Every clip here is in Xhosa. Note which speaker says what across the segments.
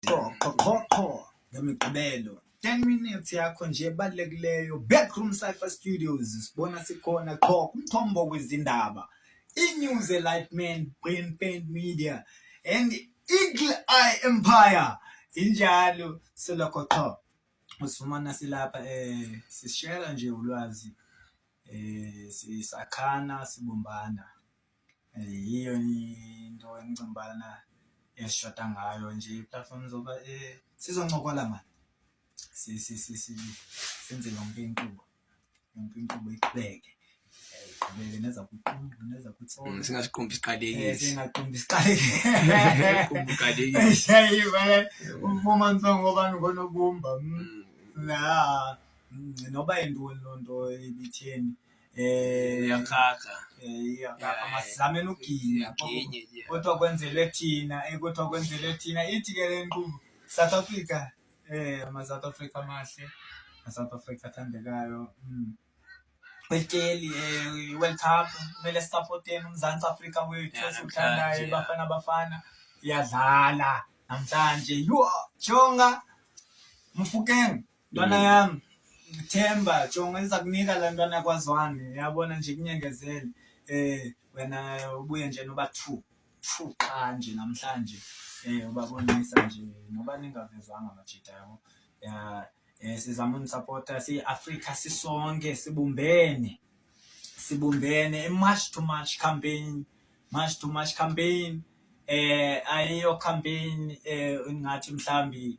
Speaker 1: qho qho qho qho ngemigqibelo 10 minutes yakho nje ebalulekileyo backroom cypher studios sibona sikhona qho kumthombo wezindaba inews elightman brain paint media and eagle eye empire injalo selokho qho usifumana silapha um sishela nje ulwazi um sisakhana sibumbana Yiyo into endicinga ubana esishota ngayo nje iiplatfomu zoba eh, sizoncokola mani senze yonke inkqubo yonke inkqubo iqhubeke iqhubeke neza kuqumbu neza kutsolo mm, singasiqumbi siqalekile
Speaker 2: eh, singaqumbi
Speaker 1: siqalekile
Speaker 2: shayiba
Speaker 1: umfumani songobani ngonobumba mm. Mm. noba yintoni loo nto ibitheni eh
Speaker 2: yakhakha
Speaker 1: zamenugila kodwa kwenzele thina eh, kodwa kwenzele thina ithi ke le nkqubo south africa eh ama-south africa amahle ma-south africa athandekayo mm. kwelityeli um eh, i-world cup kumele sisapoteni umzantsi afrika wethu esiwuthandayo bafana bafana iyadlala namhlanje yho jonga mfukeng Ntwana mm. yam, Themba, jonga iza kunika le ntwana kwazwane, yabona nje kunyengezele. Eh wena ubuye nje noba two, two qha nje namhlanje. Eh ubabonisa nje noba ningavezwanga majita yabo. Ya eh sizama unisupporta siyi-Afrika sisonke sibumbene. Sibumbene i-march to march campaign, march to march campaign. Eh ayiyo campaign eh ngathi mhlambi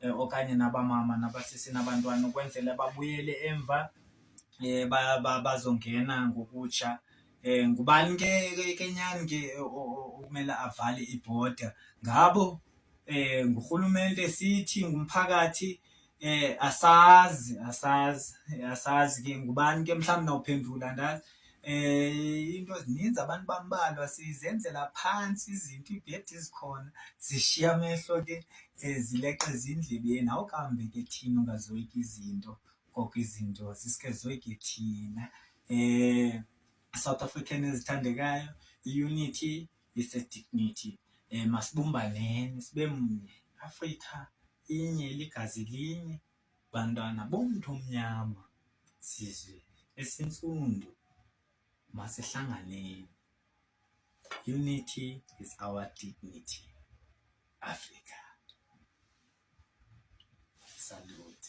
Speaker 1: eh, okanye nabamama nabasisi nabantwana ukwenzela babuyele emva um bazongena ngokutsha um ngubani ke kenyani ke okumele avale ibhoda ngabo um ngurhulumente sithi ngumphakathi um asazi asazi asazi ke ngubani ke mhlawumbi nawuphendula ndazi Eh into zininzi abantu bambalwa sizenzela phansi izinto ibhedi izikhona zishiya amehlo ke eh, zileqe ezindlebeni awukambe ke thina ungazoyika izinto koko izinto sisike zoyike thina eh South African ezithandekayo unity is a dignity eh masibumbaneni sibe mnye Africa inye ligazi linye Bantwana bomntu omnyama, sizwe esintsundu, masihlanganeni. Unity is our dignity. Africa. Salute.